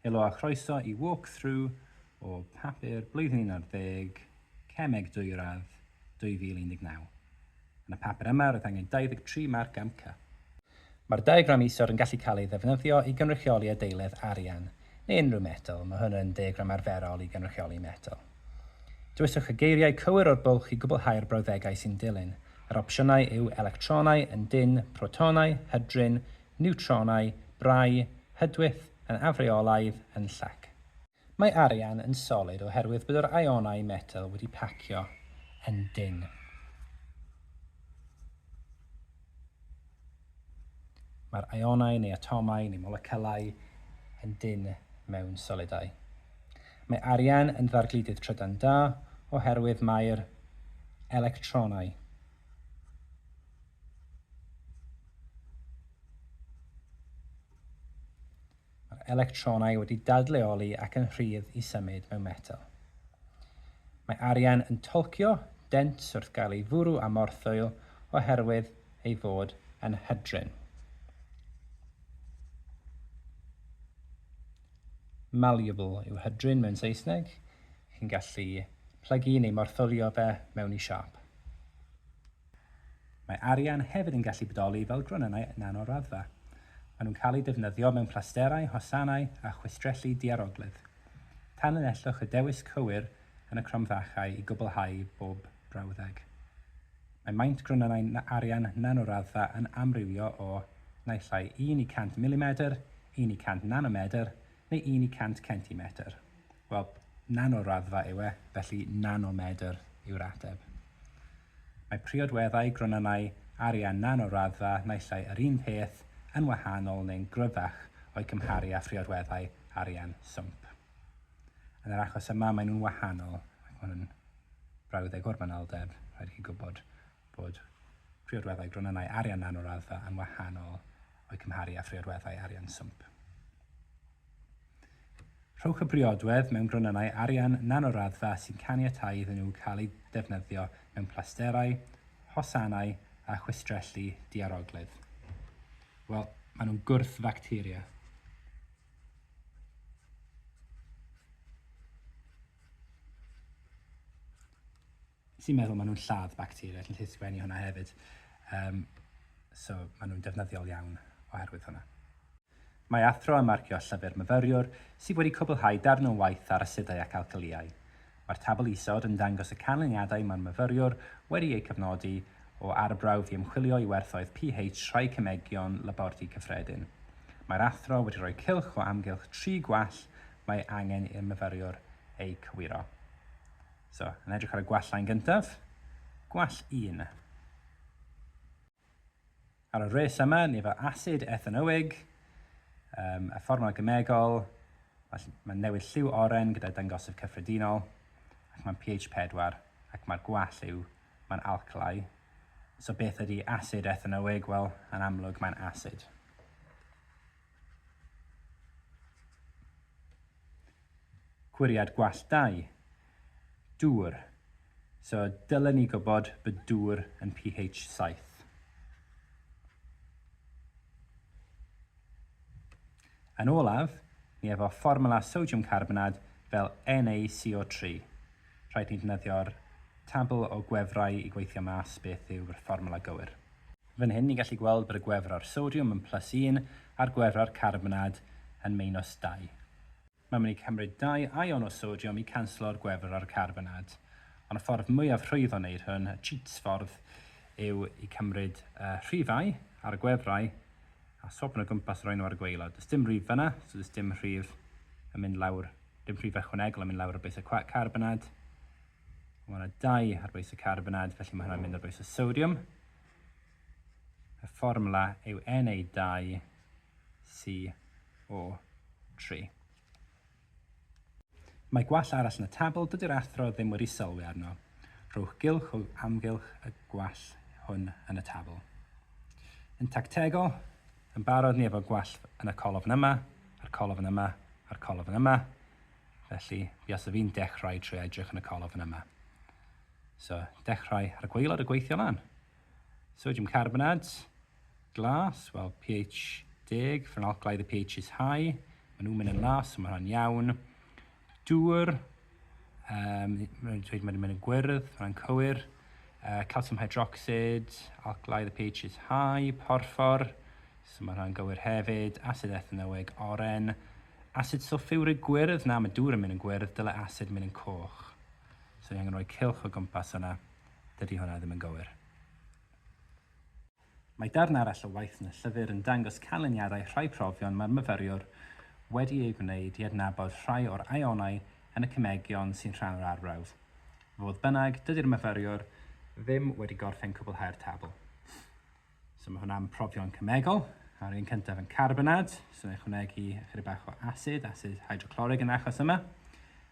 Helo a chroeso i Walk Through o Papur Blwyddyn Un Ar Ddeg, Cemeg Dwyradd 2019. Yn y papur yma roedd angen 23 marc am Cup. Mae'r diagram isod yn gallu cael ei ddefnyddio i gynrychioli adeiledd, arian, neu unrhyw metel, mae hwn yn diagram arferol i gynrychioli metel. Dewiswch y geiriau cywir o'r bwlch i gwblhau'r brawddegau sy'n dilyn. Yr opsiynau yw electronau, yn dynn, protonau, hydrin, niwtronau, brau, hydwyth, yn afreolaidd, yn llac. Mae arian yn solid oherwydd bod yr ionau metel wedi pacio yn dynn. Mae'r ionau neu atomau neu molecylau yn dynn mewn solidau. Mae arian yn ddargludydd trydan da oherwydd mae'r electronau Mae'r electronau wedi dadleoli ac yn rhydd i symud mewn metel. Mae arian yn twlcio dent wrth gael ei fwrw â morthwyl oherwydd ei fod yn hydrin. Malleable yw hydrin mewn Saesneg. Chi'n gallu plygu neu morthwlio fe mewn i siâp. Mae arian hefyd yn gallu bodoli fel gronynnau nano-raddfa. Maen nhw'n cael eu defnyddio mewn plasterau, hosanau a chwistrelli diarogledd. Tanlinellwch y dewis cywir yn y cromfachau i gwblhau bob brawddeg. Mae maint gronynnau arian nano-raddfa yn amrywio o naill ai 1 i 100 milimedr, 1 i 100 nanomedr neu 1 i 100 centimetr. Wel, nano-raddfa yw e, felly nanomedr yw'r ateb. Mae priodweddau gronynnau arian nano-raddfa naill ai yr un peth, yn wahanol neu'n gryfach o'i cymharu â phriodweddau arian swmp. Yn yr achos yma maen nhw'n wahanol, ac mae hwn yn brawddeg o'r manylder, rhaid i chi gwybod bod priodweddau gronynnau arian nano-raddfa yn wahanol o'i cymharu â phriodweddau arian swmp. Rhowch y briodwedd mewn gronynnau arian nanoraddfa sy'n caniatáu iddyn nhw cael eu defnyddio mewn plasterau, hosanau a chwistrelli diaroglyd. Wel, maen nhw'n gwrth-facteria. sy'n meddwl maen nhw'n lladd bacteria, chi'n gallu sgwennu hwnna hefyd. Um, so maen nhw'n defnyddiol iawn oherwydd hwnna. Mae athro yn marcio llyfr myfyriwr sydd wedi cwblhau darn o waith ar asidau ac alcalïau. Mae'r tabl isod yn dangos y canlyniadau mae'r myfyriwr wedi eu cofnodi o arbrawf i ymchwilio i werthoedd pH rhai cemegion labordy cyffredin. Mae'r athro wedi rhoi cylch o amgylch tri gwall mae angen i'r myfyriwr eu cywiro. So, yn edrych ar y gwallau yn gyntaf, gwall 1. Ar y res yma, nifer asid ethanoig, um, a fformiwla gemegol, mae'n newid lliw oren gyda dangosydd cyffredinol, ac mae'n pH 4, ac mae'r gwall yw, mae'n alclai. So beth ydy asid ethanoig? Wel, yn amlwg, mae'n asid. Cwriad gwallt dau. Dŵr. So dylen ni gwybod bod dŵr yn pH saith. Yn olaf, ni efo fformwla sodiwm carbonad fel NaCO3. Rhaid ni ddefnyddio'r tabl o gwefrau i gweithio mas beth yw'r fformwla gywir. Fan hyn ni'n gallu gweld bod y gwefror sodiwm yn plus un a'r gwefror carbonad yn meinus dau. Mae'n mynd i cymryd dau ion o sodiwm i canslo'r gwefror carbonad. Ond y ffordd mwyaf rhwydd o wneud hwn, y cheats ffordd, yw i cymryd y rhifau ar y gwefrau a swopio nhw o gwmpas a rhoi nhw ar y gwaelod. Does dim rhif fan'na, so does dim rhif yn mynd lawr, dim rhif ychwanegol yn mynd lawr o bwysau carbonad. Mae yna dau ar bwys y carbonad, felly mae hwnna'n mynd ar bwys y sodiwm. Y fformwla yw Na2CO3. Mae gwall arall yn y tabl, dydy'r athro ddim wedi sylwi arno. Rhowch gylch o amgylch y gwall hwn yn y tabl. Yn tactegol, yn barod ni efo gwall yn y colofn yma, a'r colofn yma, a'r colofn yma. Felly, mi os fi'n dechrau trwy edrych yn y colofn yma. So, dechrau ar y gwaelod a gweithio lan. Sodium carbonate, glas, wel, pH deg, ffenolclaidd y pH is high, maen nhw'n mynd yn las, so mae hwnna'n iawn. Dŵr, um, mae'n dweud mae'n mynd yn gwyrdd, mae'n cywir. Uh, calcium hydroxid, alclaidd y pH is high, porffor, so mae hwnna'n gywir hefyd. Acid ethanoig, oren, Asid sylffiwrig gwyrdd, na, mae dŵr yn mynd yn gwyrdd, dyle asid mynd yn coch. So ni angen rhoi cylch o gwmpas yna. Dydy hwnna ddim yn gywir. Mae darn arall o waith yn y llyfr yn dangos canlyniadau rhai profion mae'r myfyriwr wedi eu gwneud i adnabod rhai o'r ionau yn y cemegion sy'n rhan o'r arbrawf. Fodd bynnag, dydy'r myfyriwr ddim wedi gorffen cwblhau'r tabl. So mae hwnna'n profion cemegol. A'r un cyntaf yn carbonad, so ni'n chwnegu ychydig bach o asid, asid hydroclorig yn achos yma,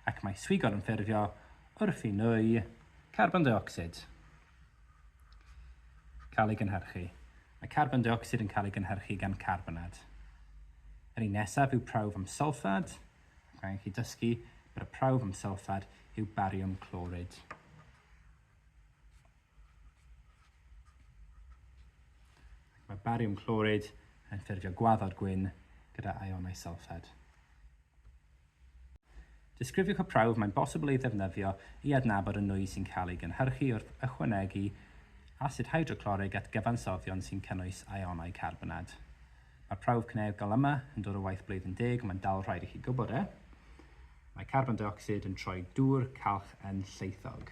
ac mae swigod yn ffurfio wrth i nwy carbon dioxid cael ei gynhyrchu. Mae carbon dioxid yn cael ei gynhyrchu gan carbonad. Yr un nesaf yw prawf am sylffad, ac angen chi dysgu bod y prawf am sylffad yw bariwm clorid. Mae bariwm clorid yn ffurfio gwaddod gwyn gyda ionau sylffed. Disgrifiwch y prawf mae'n bosibl ei ddefnyddio i adnabod y nwy sy'n cael ei gynhyrchu wrth ychwanegu asid hydroclorig at gyfansoddion sy'n cynnwys ionau carbonad. Mae'r prawf cynegol yma yn dod o waith blwyddyn deg, ond mae'n dal rhaid i chi gwybod e. Mae carbon deuocsid yn troi dŵr calch yn lleithog.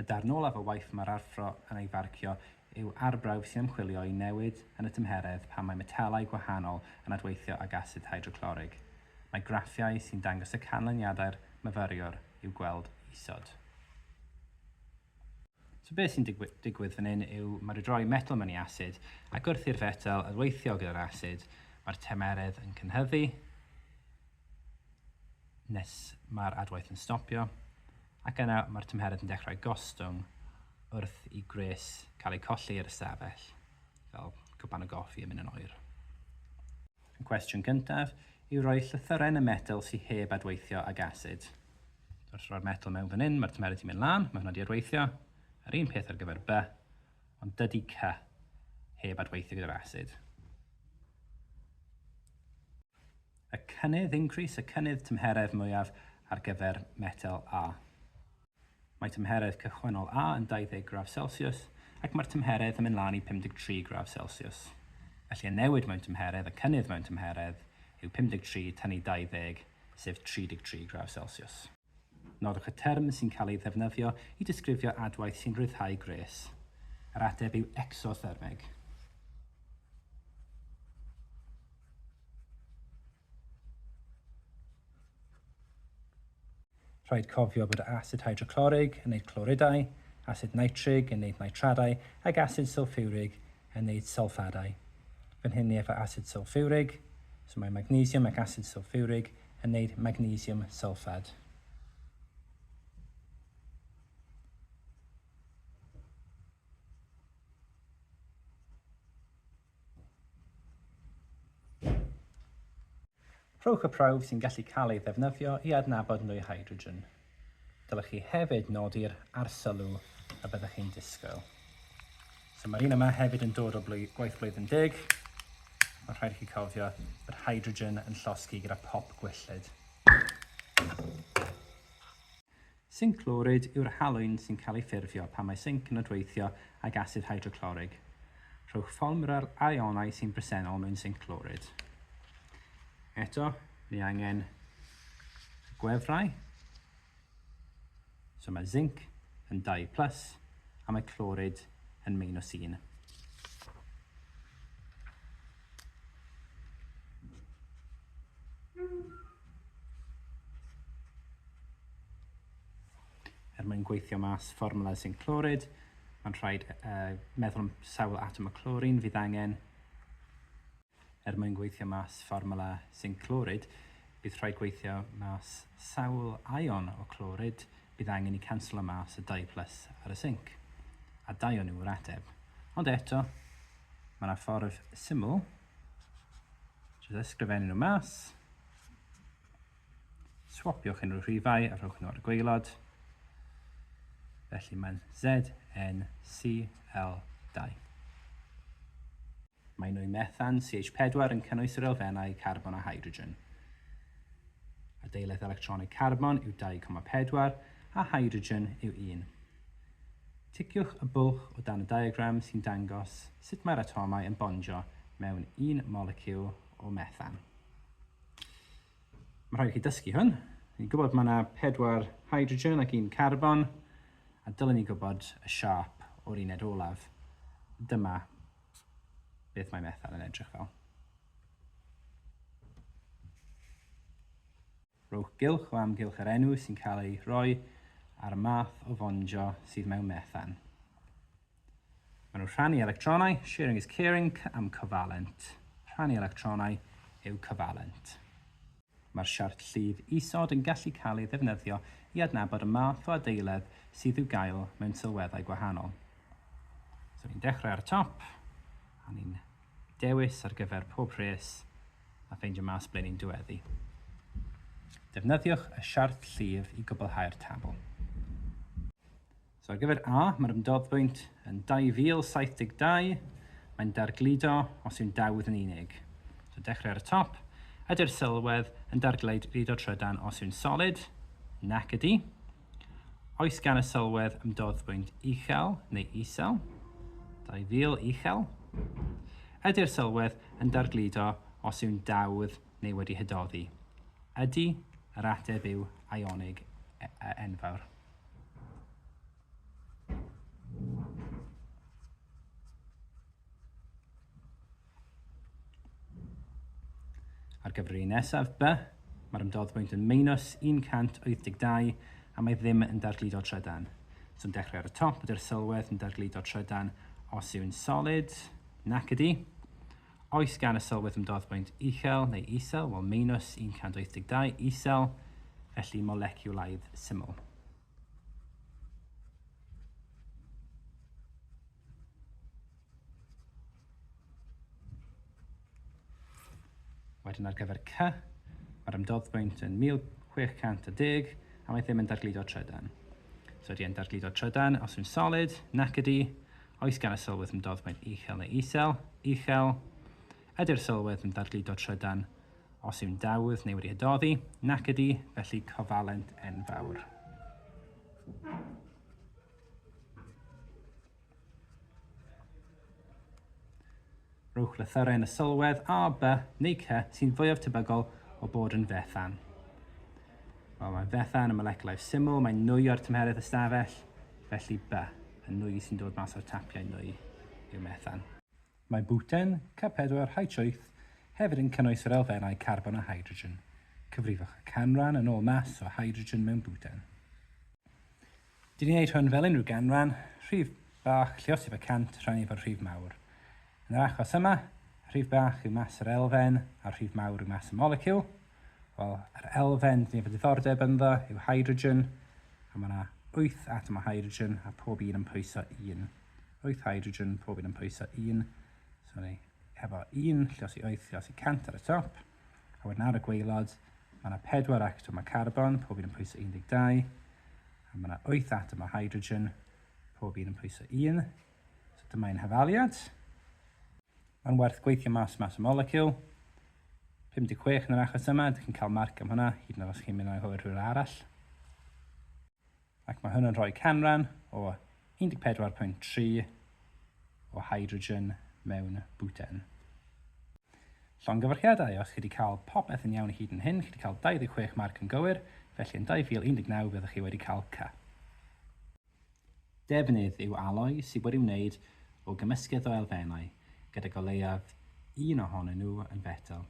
Y darn olaf o waith mae'r arfro yn ei farcio yw arbrawf sy'n ymchwilio i newid yn y tymheredd pan mae metalau gwahanol yn adweithio ag asid hydroclorig. Mae graffiau sy'n dangos y canlyniadau'r myfyriwr i'w gweld isod. So beth sy'n digwydd fan hyn yw mae rhaid rhoi metel mewn i asid ac wrth i'r fetel adweithio gyda'r asid mae'r tymeredd yn cynhyddu nes mae'r adwaith yn stopio. Ac yna mae'r tymheredd yn dechrau gostwng wrth i gwres cael eu colli i'r ystafell, fel cwpan o goffi yn mynd yn oer. Y cwestiwn gyntaf yw rhoi llythyren y metel sy heb adweithio ag asid. Wrth roi'r metel mewn fan hyn, mae'r tymheredd sy'n mynd lan, mae hwnna wedi adweithio. Yr un peth ar gyfer B, ond dydy C heb adweithio gyda'r asid. Y cynnydd, increase, y cynnydd tymheredd mwyaf ar gyfer metel A. Mae tymheredd cychwynnol A yn 20 gradd Celsius ac mae'r tymheredd yn mynd lan i 53 gradd Celsius. Felly y newid mewn tymheredd, y cynnydd mewn tymheredd, yw 53 tynnu 20, sef 33 gradd Celsius. Nodwch y term sy'n cael ei ddefnyddio i disgrifio adwaith sy'n rhyddhau gwres. Yr ateb yw ecsothermeg. Rhaid cofio bod asid hydroclorig yn neud cloridau, asid nitrig yn neud nitradau ac asid sylffiwrig yn neud sylffadau. Fan hyn ni efo asid sylffiwrig, so mae magnesiwm ac asid sylffiwrig yn wneud magnesiwm sylffad. Rhowch y prawf sy'n gallu cael ei ddefnyddio i adnabod nwy hydrogen. Dylech chi hefyd nodi'r arsylw y byddech chi'n disgwyl. So mae'r un yma hefyd yn dod o blwydd, gwaith blwyddyn deg. Mae'n rhaid i chi cofio bod hydrogen yn llosgi gyda pop gwyllid. Zinc clorid yw'r halwyn sy'n cael ei ffurfio pan mae zinc yn adweithio ag asid hydroclorig. Rhowch ffolmra'r aionau sy'n bresennol mewn zinc clorid. Eto, ni angen gwefrau. So mae zinc yn 2 plus a mae clorid yn minus 1. Er mwyn gweithio mas fformula sy'n clorid, mae'n rhaid uh, meddwl am sawl atom o clorin fydd angen Er mwyn gweithio mas fformwla sinc clorid, bydd rhaid gweithio mas sawl ion o clorid bydd angen i canslo mas y dau plus ar y sinc, a dau o nhw yw'r ateb. Ond eto, mae yna ffordd syml, jyst ysgrifennu nhw mas, swapiwch unrhyw rhifau a rhowch nhw ar y gwaelod, felly mae'n ZnCl2. Mae nwy methan, CH4, yn cynnwys yr elfennau carbon a hydrogen. Adeiledd electronig carbon yw 2,4 a hydrogen yw 1. Ticiwch y bwlch o dan y diagram sy'n dangos sut mae'r atomau yn bondio mewn un moleciwl o methan. Mae rhaid i chi dysgu hwn. Ni'n gwybod mae yna pedwar hydrogen ac un carbon, a dylen ni gwybod y siâp o'r uned olaf. Dyma beth mae methan yn edrych fel. Rhowch gylch o amgylch yr enw sy'n cael ei roi a'r math o fondio sydd mewn methan. Maen nhw rhannu electronau, sharing is caring, am cyfalent. Rhannu electronau yw cyfalent. Mae'r siart llif isod yn gallu cael ei ddefnyddio i adnabod y math o adeiledd sydd i'w gael mewn sylweddau gwahanol. So ni'n dechrau ar y top, a ni'n dewis ar gyfer pob rhes a ffeindio mas ble ni'n diweddu. Defnyddiwch y siart llif i gwblhau'r tabl. So ar gyfer A, mae'r ymdoddpwynt yn 2072, mae'n dargludo os yw'n dawdd yn unig. So dechrau ar y top, ydy'r sylwedd yn dargludo trydan os yw'n solid? Nac ydy. Oes gan y sylwedd ymdoddpwynt uchel neu isel? 2000 uchel. Ydy'r sylwedd yn dargludo os yw'n dawdd neu wedi hydoddi? Ydy, yr ateb yw ionig e, e, enfawr. Ar gyfer yr un nesaf, B, mae'r ymdoddbwynt yn meinus 182 a mae ddim yn dargludo trydan. So yn dechrau ar y top, ydy'r sylwedd yn dargludo trydan os yw'n solid? Nac ydy. Oes gan y sylwedd ymdoddbwynt uchel neu isel? Wel, meinws 182, isel, felly moleciwlaidd syml. Wedyn ar gyfer C, mae'r ymdoddbwynt yn 1610, a mae ddim yn dargludo trydan. So ydy e'n dargludo trydan os yw'n solid? Nac ydy, Oes gan y sylwedd ymdoddwedd uchel neu isel? Uchel. Ydy'r sylwedd yn ddargludo trydan os yw'n dawdd neu wedi hydoddi? Nac ydy, felly cofalent enfawr. Rhowch lythyrau yn y sylwedd A, B neu C sy'n fwyaf tebygol o bod yn fethan. Wel, mae fethan yn moleciwlau syml, mae'n nwy o'r tymheredd ystafell, felly B, y nwy sy'n dod mas o'r tapiau nwy yw methan. Mae bwten, C4H8, hefyd yn cynnwys yr elfennau carbon a hydrogen. Cyfrifwch y canran yn ôl mas o hydrogen mewn bwten. Dyn ni'n neud hwn fel unrhyw ganran, rhif bach lliosif y cant rhannu efo'r rhif mawr. Yn yr achos yma, rhif bach yw mas yr elfen a'r rhif mawr yw mas y moleciwl. Wel, yr elfen dyn ni efo diddordeb ynddo yw hydrogen, a mae yna 8 atom o hydrogen a pob un yn pwyso 1. 8 hydrogen, pob un yn pwyso 1. So ni efo 1 lliosi 8 lliosi 100 ar y top. A wedyn ar y gwaelod, mae yna pedwar atom o carbon, pob un yn pwyso 12, a mae yna wyth atom o hydrogen, pob un yn pwyso 1. So dyma ein hafaliad. Mae'n werth gweithio mas mas y moleciwl. 56 yn yr achos yma, ydych chi'n cael marc am hwnna, hyd yn oed os chi'n mynd o'i hwyr rhywle arall. Ac mae hwn yn rhoi canran o 14.3 o hydrogen mewn bwten. Llongyfarchiadau os chi wedi cael popeth yn iawn hyd yn hyn, chi wedi cael 26 marc yn gywir, felly yn 2019 fyddwch chi wedi cael C. Defnydd yw aloi sydd wedi wneud o gymysgedd o elfennau, gydag o leiaf un ohonyn nhw yn fetel.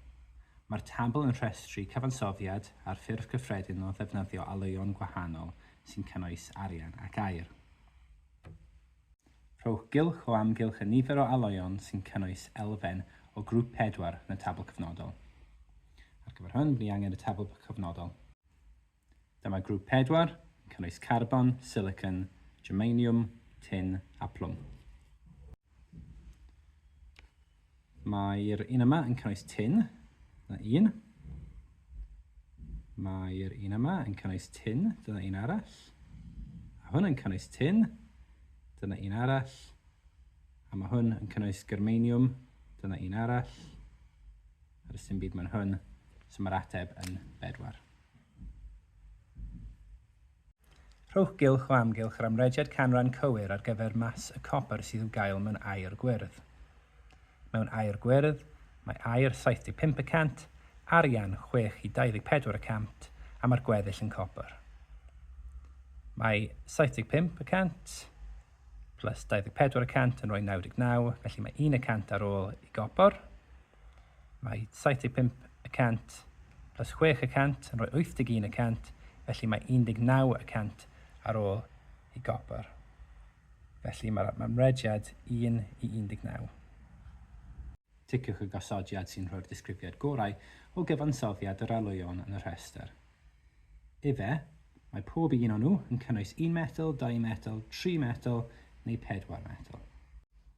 Mae'r tabl yn rhestru cyfansoddiad ar ffurf cyffredin o ddefnyddio alwyon gwahanol sy'n cynnwys arian ac aer. Rhowch gylch o amgylch y nifer o alwyon sy'n cynnwys elfen o grwp pedwar yn y tabl cyfnodol. Ar gyfer hwn, ni angen y tabl cyfnodol. Dyma grŵp pedwar yn cynnwys carbon, silicon, germanium, tin a plwm. Mae'r un yma yn cynnwys tin, dyna un. Mae'r un yma yn cynnwys tin, dyna un arall. A hwn yn cynnwys tin, dyna un arall. A mae hwn yn cynnwys germanium, dyna un arall. Ar y sy'n byd mae'n hwn, so mae'r ateb yn bedwar. Rhowch gylch o amgylch yr amrediad canran cywir ar gyfer mas y copr sydd i'w gael mewn aer gwyrdd. Mewn aer gwyrdd, mae aer 75 y cant, arian 6 i 24 y cant a mae'r gweddill yn copr. Mae 75 y cant plus 24 y cant yn rhoi 99, felly mae 1 y cant ar ôl i gopr. Mae 75 y cant plus 6 y cant yn rhoi 81 y cant, felly mae 19 y cant ar ôl i gopr. Felly mae'r mae mrediad 1 i 19. Ticiwch y gosodiad sy'n rhoi'r disgrifiad gorau o gyfansoddiad yr oleuon yn y rhestr. Efe, mae pob un o'n nhw yn cynnwys un metel, dau metel, tri metel neu pedwar metel.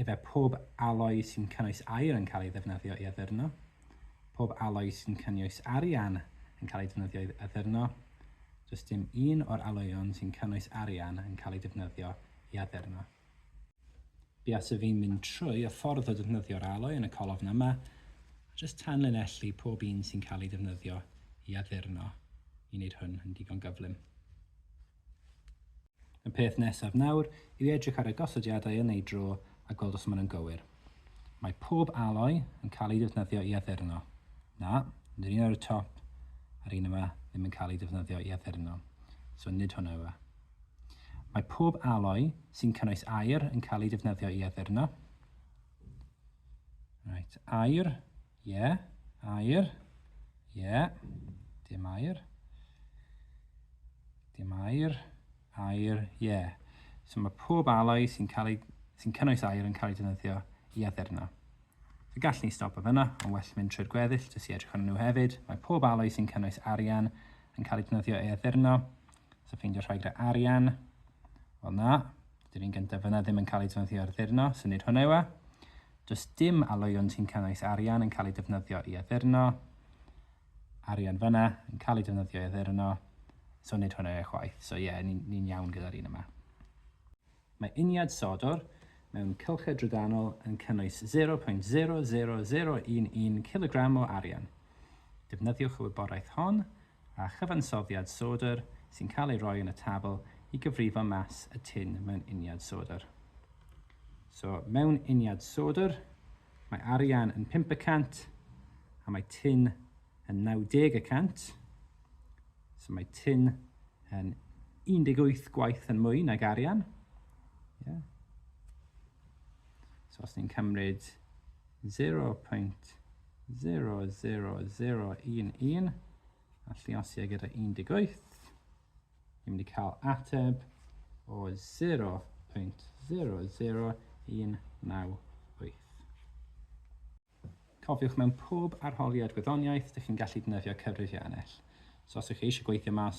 Efe pob aloi sy'n cynnwys aer yn cael ei ddefnyddio i addurno. Pob aloi sy'n cynnwys arian yn cael ei defnyddio i addurno. Does dim un o'r aloeon sy'n cynnwys arian yn cael ei defnyddio i addurno. Buas y fi'n mynd trwy y ffordd o defnyddio'r aloi yn y colofn yma, a jyst tanlinellu pob un sy'n cael ei defnyddio i addurno i wneud hwn yn digon gyflym. Y peth nesaf nawr yw i edrych ar y gosodiadau yn eu dro a gweld os maen nhw'n gywir. Mae pob aloi yn cael ei defnyddio i addurno. Na, nid yr un ar y top a'r un yma ddim yn cael ei defnyddio i addurno. So nid hwnna yw e. Mae pob aloi sy'n cynnwys aer yn cael ei defnyddio i addurno. Right, aer Ie, air. Ie, dim air. Dim air. Air, ie. So mae pob aloi sy'n cael ei, sy'n cynnwys air yn cael ei defnyddio i addurno. Fe gall ni stop o fyna, ond well mynd trwy'r gweddill jyst i edrych arnyn nhw hefyd. Mae pob aloi sy'n cynnwys arian yn cael ei defnyddio i addurno. So ffeindio rhai gyda arian. Wel na, dy'r un gyntaf fyna ddim yn cael ei defnyddio ar addurno, so nid hwnna yw e. Does dim alwyon sy'n cynnwys arian yn cael ei defnyddio i addurno, arian fyna yn cael ei defnyddio i addurno, so nid hwnna chwaith. So ie, yeah, ni'n ni iawn gyda'r un yma. Mae uniad sodwr mewn cylchau drydanol yn cynnwys 0.00011 cilogram o arian. Defnyddiwch y wybodaeth hon a chyfansoddiad sodr sy'n cael ei roi yn y tabl i gyfrifo mas y tin mewn uniad sodr. So, mewn uniad sodr, mae arian yn pump y cant, a mae tin yn 90 y cant. So mae tin yn 18 gwaith yn mwy nag arian. Yeah. So os ni'n cymryd 0. 000011 a lliasia gyda 18. Ni'n mynd i cael ateb o 0.00198. Cofiwch mewn pob arholiad gwyddoniaeth, dych chi'n gallu defnyddio cyfrifiannell. So os ych chi eisiau gweithio mas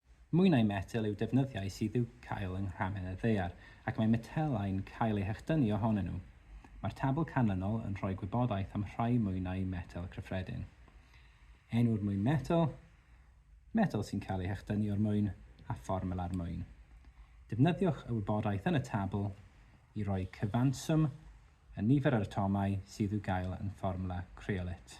Mwy na'i metel yw defnyddiau sydd i'w cael yng nghramen y ddaear, ac mae metelau'n cael eu hechdynnu ohonyn nhw. Mae'r tabl canlynol yn rhoi gwybodaeth am rhai mwy na'i metel cyffredin. Enw'r mwyn metel, metel sy'n cael ei hechdynnu o'r mwyn, a fformula'r mwyn. Defnyddiwch y wybodaeth yn y tabl i roi cyfanswm y nifer yr atomau sydd i'w gael yn fformwla creolit.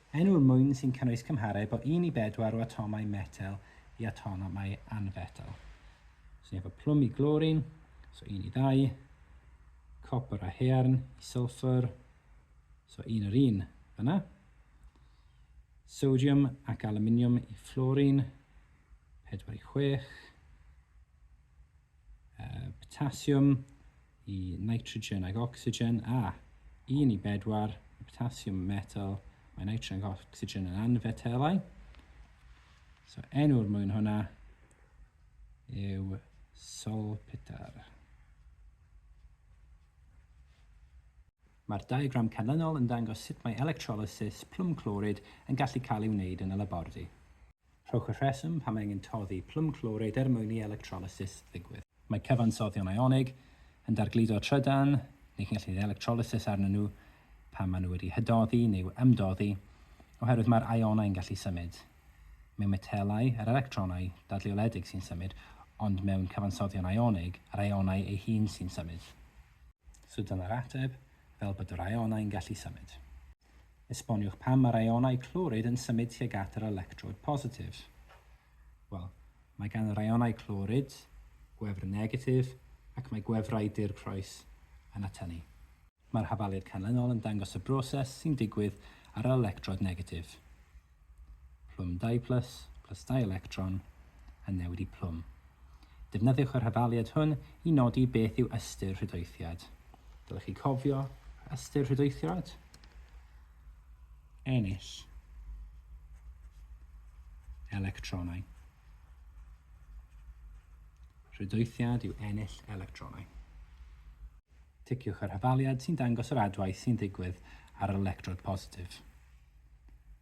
Enw'r mwyn sy'n cynnwys cymhareb o un i bedwar o atomau metel i atomau anfetel. So efo plwm i glorin, so un i ddau, copr a hearn i sylffwr, so un yr un fyna, sodiwm ac aluminiwm i fflorin, pedwar i chwech, uh, potasiwm, i nitrogen ac ocsigen, a, un i bedwar, y potassiwm yn metel, mae nitrogen ac ocsigen yn anfetelau. So enw'r mwyn hwnna yw solpitar. Mae'r diagram canlynol yn dangos sut mae electrolysis plwm clorid yn gallu cael ei wneud yn y labordy. Rhowch y rheswm pam angen toddi plwm clowrid er mwyn i electrolysis ddigwydd. Mae cyfansoddion ionig yn dargludo trydan, ni chi'n gallu gwneud electrolysis arnyn nhw pan maen nhw wedi hydoddi neu ymdoddi, oherwydd mae'r ionau yn gallu symud. Mewn metelau, yr electronau dadleoledig sy'n symud, ond mewn cyfansoddion ionig, yr ionau ei hun sy'n symud. So dyna'r ateb, fel bod yr ionau yn gallu symud. Esboniwch pam mae'r ionau clorid yn symud tuag at yr electrod positif. Wel, mae gan yr ionau clorid gwefr negatif ac mae gwefrau dirprwys yn atynnu. Mae'r hafaliad canlynol yn dangos y broses sy'n digwydd ar yr electrod negatif. Plwm 2 plus, plus 2 electron, a newid i plwm. Defnyddiwch yr hafaliad hwn i nodi beth yw ystyr rhydoethiad. Dylech chi cofio ystyr rhydoethiad? Ennill electronau. Rhydoethiad yw ennill electronau. Ticiwch yr hafaliad sy'n dangos yr adwaith sy'n digwydd ar yr electrod positif.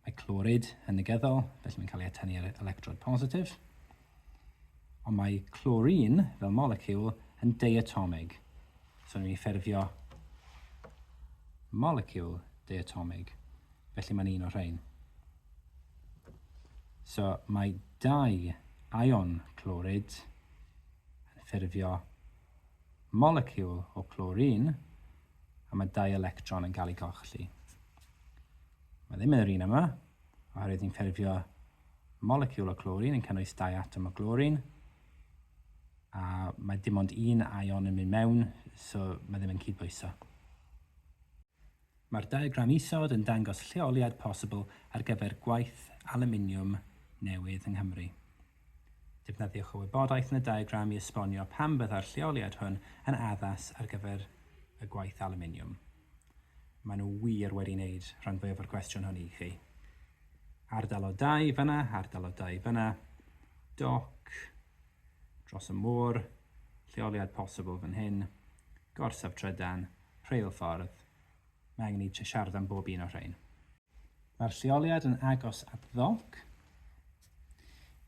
Mae clorid yn negyddol, felly mae'n cael ei atennu ar electrod positif. Ond mae clorin, fel moleciwl, yn diatomig. So ni'n ffurfio moleciwl diatomig. Felly mae'n un o'r rhain. So mae dau ion clorid yn ffurfio moleciwl o clorin, a mae dau electron yn cael ei golli. Mae ddim yn yr un yma, oherwydd ni'n ffurfio moleciwl o glorin yn cynnwys dau atom o glorin, a mae dim ond un ion yn mynd mewn, so mae ddim yn cydbwyso. Mae'r diagram isod yn dangos lleoliad posibl ar gyfer gwaith aluminiwm newydd yng Nghymru. Defnyddiwch y wybodaeth yn y diagram i esbonio pam byddai'r lleoliad hwn yn addas ar gyfer y gwaith alwminiwm. Maen nhw wir wedi wneud rhan fwyaf o'r cwestiwn hwn i chi. Ardal o dai fyna, ardal o dai fyna, doc, dros y môr, lleoliad posibl fan hyn, gorsaf trydan, rheilffordd. Mae angen i ti siarad am bob un o'r rhain. Mae'r lleoliad yn agos at ddonc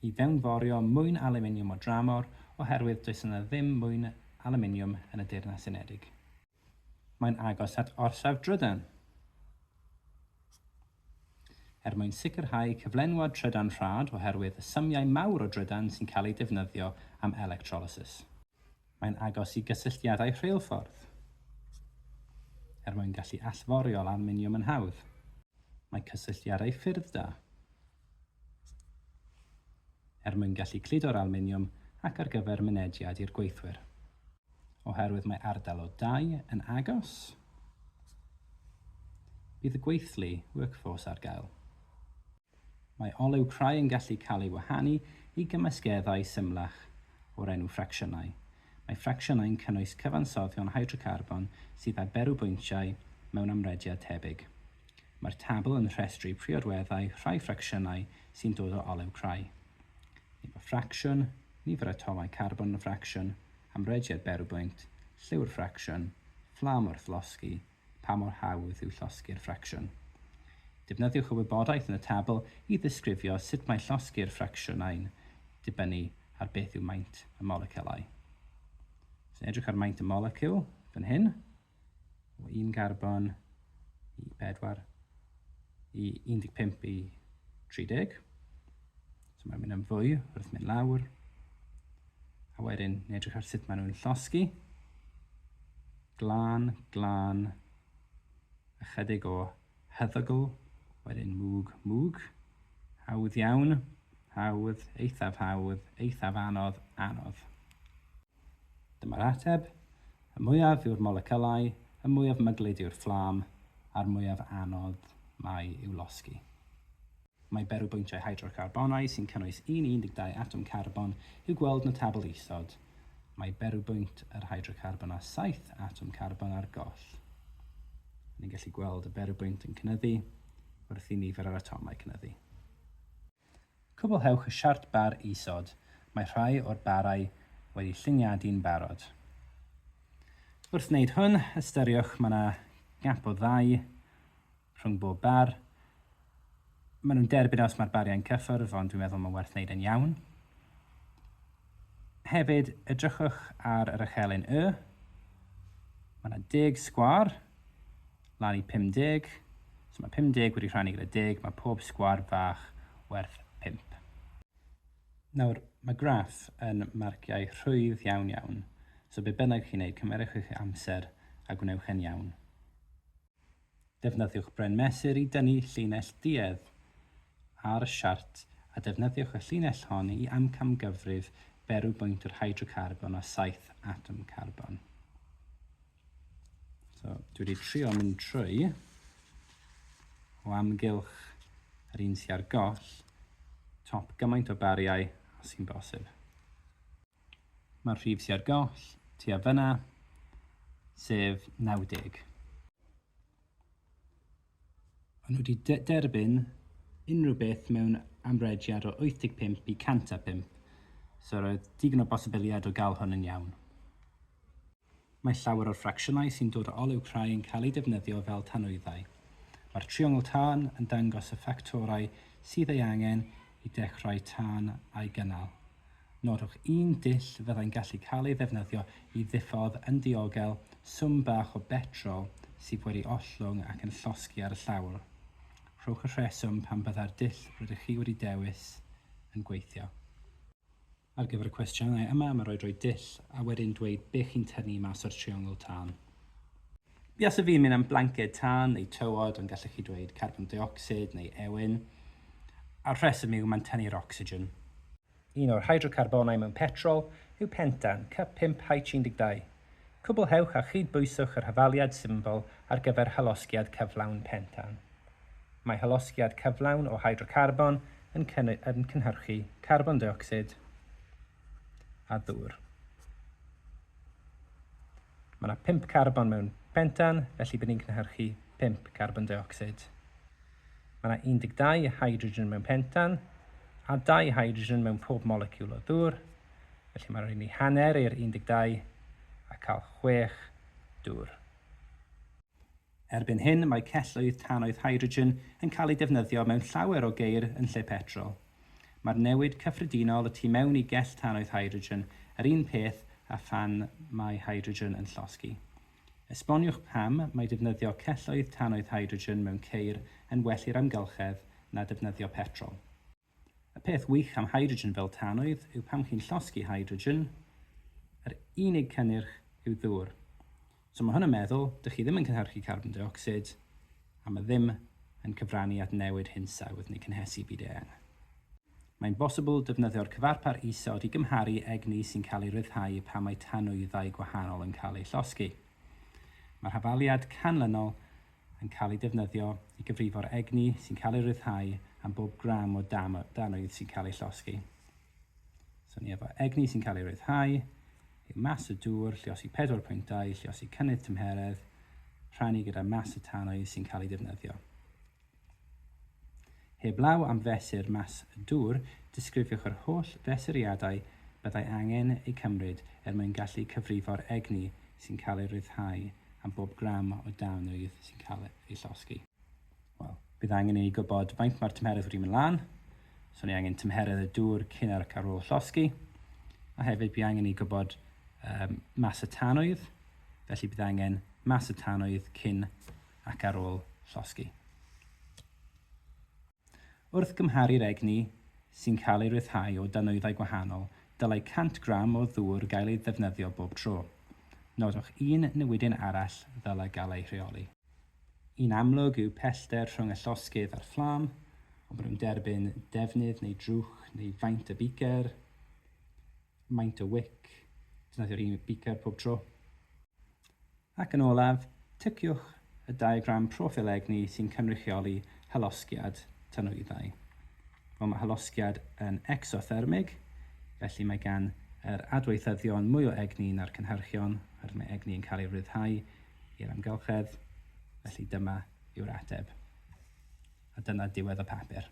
i fewnforio mwyn alwminiwm o dramor oherwydd does yna ddim mwyn alwminiwm yn y Deyrnas Unedig. Mae'n agos at orsaf drydan er mwyn sicrhau cyflenwad trydan rhad oherwydd y symiau mawr o drydan sy'n cael eu defnyddio am electrolysis. Mae'n agos i gysylltiadau rheilffordd, er mwyn gallu allforiol alwminiwm yn hawdd. Mae cysylltiadau ffyrdd da, er mwyn gallu cludo'r alwminiwm ac ar gyfer mynediad i'r gweithwyr. Oherwydd mae ardal o dai yn agos, bydd y gweithlu, workforce, ar gael. Mae olew crai yn gallu cael ei wahanu i gymysgeddau symlach o'r enw ffracsiynau. Mae ffracsiynau'n cynnwys cyfansoddion hydrocarbon sydd â berwbwyntiau mewn amrediad tebyg. Mae'r tabl yn rhestru priodweddau rhai ffracsiynau sy'n dod o olew crai. Nifer ffracsiwn, nifer atomau carbon yn ffracsiwn, amrediad berwbwynt, lliw'r ffracsiwn, fflam wrth losgi, Pa mor hawdd yw llosgi'r ffracsiwn? Defnyddiwch y wybodaeth yn y tabl i ddisgrifio sut mae llosgi'r ffracsiynau'n dibynnu ar beth yw maint y moleciwlau. So edrych ar maint y moleciwl fan hyn, o un garbon i bedwar, i 15 i 30. So mae'n mynd yn fwy wrth mynd lawr. A wedyn, edrych ar sut maen nhw'n llosgi. glân, glân, ychydig o hyddygl, wedyn mwg, mwg, hawdd iawn, hawdd, eithaf hawdd, eithaf anodd, anodd. Dyma'r ateb, y mwyaf yw'r molecylau, y mwyaf myglyd yw'r fflam, a'r mwyaf anodd mae i'w losgi. Mae berwybwyntiau hydrocarbonau sy'n cynnwys un i 12 atom carbon i'w gweld yn y tabl isod. Mae berwybwynt yr hydrocarbon â saith atom carbon ar goll. Ni'n gallu gweld y berwybwynt yn cynyddu wrth i nifer yr atomau cynyddu. Cwblhewch y siart bar isod. Mae rhai o'r barau wedi lluniadu'n barod. Wrth wneud hwn, ystyriwch mae yna gap o ddau rhwng bob bar. Maen nhw'n derbyn e os mae'r bariau'n cyffwrdd, ond dwi'n meddwl mae'n werth wneud e'n iawn. Hefyd, edrychwch ar yr echelin Y. Mae yna 10 sgwar, lan i 50. So mae 50 wedi rhannu gyda 10, mae pob sgwar fach werth 5. Nawr, mae graff yn marciau rhwydd iawn iawn, so be bynnag chi'n neud, cymerwch eich amser a gwnewch e'n iawn. Defnyddiwch bren mesur i dynnu llinell duedd ar y siart a defnyddiwch y llinell hon i amcamgyfrif berw bwynt yr hydrocarbon o saith atom carbon. So, dwi wedi trio mynd trwy o amgylch yr un sy'n ar goll, top gymaint o bariau os sy'n bosib. Mae'r rhif sy ar goll tua fan'na, sef 90. O'n nhw wedi derbyn unrhyw beth mewn amrediad o 85 i 105, so roedd digon o bosibiliad o gael hwn yn iawn. Mae llawer o'r ffracsiynau sy'n dod o olew crai yn cael eu defnyddio fel tanwyddau. Mae'r triongl tân yn dangos y ffactorau sydd ei angen i dechrau tân a'i gynnal. Nodwch un dull fyddai'n gallu cael ei ddefnyddio i ddiffodd yn diogel swm bach o betrol sydd wedi ollwng ac yn llosgi ar y llawr. Rhowch y rheswm pam byddai'r dull rydych chi wedi dewis yn gweithio. Ar gyfer y cwestiynau yma, mae'n rhaid rhoi dull a wedyn dweud be chi'n tynnu mas o'r triongl tân. Buasai fi'n mynd am blanced tân neu tywod, ond gallech chi dweud carbon deuocsid neu ewyn. A'r rheswm yw mae'n tynnu'r ocsigen. Un o'r hydrocarbonau mewn petrol yw pentan, cyp 5H12. Cwblhewch a chyd-bwyswch yr hafaliad syml ar gyfer hylosgiad cyflawn pentan. Mae hylosgiad cyflawn o hydrocarbon yn cynhyrchu carbon deuocsid a ddŵr. Mae yna pump carbon mewn pentan, felly bydd ni'n cynhyrchu pump carbon deuocsid. Mae yna 12 hydrogen mewn pentan a dau hydrogen mewn pob moleciwl o ddŵr, felly mae'n rhaid ni hanner i'r 12 a cael chwech dŵr. Erbyn hyn, mae celloedd tannoedd hydrogen yn cael eu defnyddio mewn llawer o geir yn lle petrol. Mae'r newid cyffredinol y tu mewn i gell tannoedd hydrogen yr un peth â phan mae hydrogen yn llosgi. Esboniwch pam mae defnyddio celloedd tannoedd hydrogen mewn ceir yn well i'r amgylchedd na defnyddio petrol. Y peth wych am hydrogen fel tanwydd yw pan chi'n llosgi hydrogen, yr unig cynnyrch yw ddŵr. So mae hwn yn meddwl, dych chi ddim yn cynhyrchu carbon deuocsid, a mae ddim yn cyfrannu at newid hinsawdd neu cynhesu byd eang. Mae'n bosibl defnyddio'r cyfarpar isod i gymharu egni sy'n cael ei ryddhau pan mae tanwyddau gwahanol yn cael eu llosgi. Mae'r hafaliad canlynol yn cael ei defnyddio i gyfrifo'r egni sy'n cael ei ryddhau am bob gram o danwydd sy'n cael ei llosgi. So ni efo egni sy'n cael ei ryddhau, yw mas y dŵr, lliosi pedwar pwyntau, lliosi cynnydd tymheredd, rhannu gyda mas y tanwydd sy'n cael ei defnyddio. Heblaw am fesur mas y dŵr, disgrifiwch yr holl fesuriadau byddai angen eu cymryd er mwyn gallu cyfrifo'r egni sy'n cael ei ryddhau am bob gram o dân rydd sy'n cael ei llosgi. Wel, bydd angen i ni gwybod faint mae'r tymheredd wedi mynd lan, so ni angen tymheredd y dŵr cyn ac ar ôl llosgi, a hefyd bydd angen i ni gwybod um, mas y tanwydd, felly bydd angen mas y tanwydd cyn ac ar ôl llosgi. Wrth gymharu'r egni sy'n cael ei ryddhau o danwyddau gwahanol, dylai 100 gram o ddŵr gael ei ddefnyddio bob tro. Nodwch un newidyn arall ddylai gael ei rheoli. Yn amlwg yw pellter rhwng y llosgydd a'r fflam, ond maen nhw'n derbyn defnydd neu drwch neu faint y beaker, maint y wic, defnyddio'r un beaker pob tro. Ac yn olaf, ticiwch y diagram proffil egni sy'n cynrychioli hylosgiad tanwyddau. Wel, mae hylosgiad yn ecsothermig, felly mae gan yr adweithyddion mwy o egni na'r cynhyrchion, oherwydd mae egni yn cael ei ryddhau i'r amgylchedd, felly dyma yw'r ateb. A dyna diwedd y papur.